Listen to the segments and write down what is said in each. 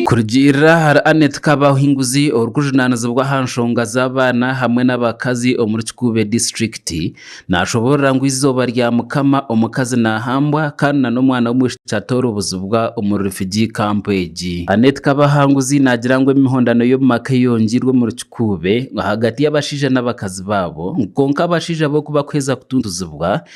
Kurugiirira ahari Annet Kabahinguzi orikujunaanizibwa aha nshonga z'abaana hamwe n'abakazi omuri Kikuube disiturikiti, naashoboorora ngu eizooba rya Mukama omukazi naahambwa kandi nana omwana w'omwishiki atoorobozibwa omuri refugee camp egi. Annet Kabahanguzi naagira ngu emihondano y'omu maka eyongiirwe omuri Kikuube ahagati y'abashaija n'abakazi baabo, ngu kwonka abashaija bo ku bakuheza kutuntuzibwa,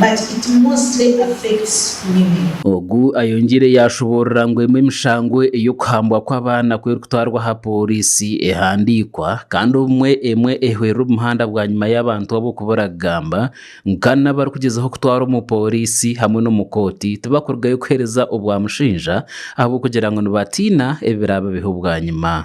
but it mostly affects women. Ogu ayongiire yaashoboorora ngu emwe emishango ey'okuhambwa kw'abaana ku erikutwarwa aha pooriisi ehandiikwa kandi obumwe emwe ehwerera omuhanda bwanyima y'abantu abo kubura kugamba ngu kandi n'abarikugyezaho kutwarwa omu pooriisi hamwe n'omu kooti tibakurugayo kuheereza obwa mushaija ahabw'okugira ngu nibatiina ebiraababeho bwanyima.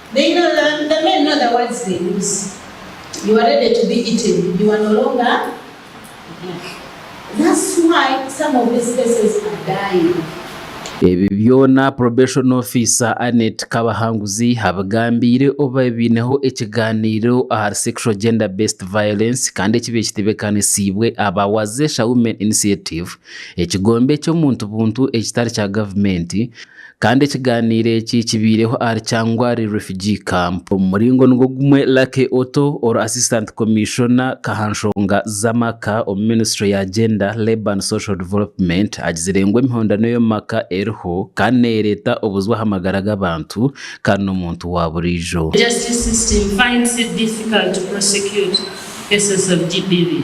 They know the the men know the words they use you are ready to be eaten you are no longer yeah that's why some of these cases are dying. Ebi byona Probation Officer Annet Kabahanguzi abigambiire obu baabaire baineho ekigaaniiro ahari Sexual Gender Based Violence kandi ekibaire kitebeekanisiibwe aba Wazesha Women Initiative, ekigombe ky'omuntu buntu ekitari kya gavumenti, Kandi ekigaaniiro eki kibaireho ahari Kyangwari Refugee Camp. Omu muringo nigwo gumwe Lucky Otto ori Assistant Commissiona kahanshonga z'amaka omu ministry ya Gender, Labour and Social Development agizire ngu emihondano ey'omu maka eriho kandi neereeta obuzwe aha magara g'abantu kandi n'omuntu waaburiijo. Justice system finds it difficult to prosecute cases of GBV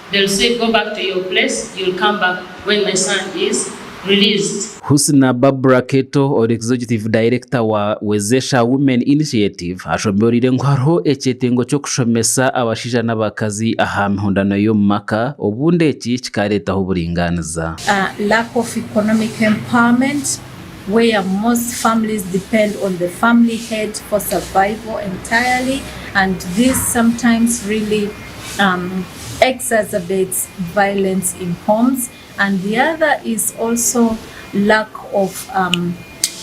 They'll say go back to your place, you'll come back when my son is released. Husna Barbra Keto, ori Executive Director wa Wezesha Women Initiative, ashombioriire ngu hariho ekyetengo ky'okushomesa abashaija n'abakazi aha mihondano y'omu maka obundi eki kikareetaho oburingaaniza. a lack of economic empowerment where most families depend on the family head for survival entirely and this sometimes really. exacerbates violence in homes and the other is also lack of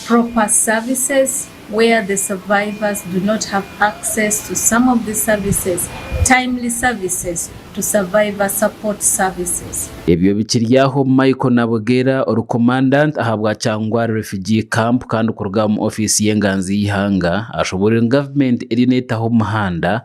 proper services where the survivors do not have access to some of the services, timely services to survivor support services. Ebyo bikiri aho, Michael Nabugera ori Commandant ahabwa Kyangwari Refugee Camp kandi kuruga omu ofiisi y'enganzi y'eihanga ashoboorire ngu gavumenti eriyo neetaho omuhanda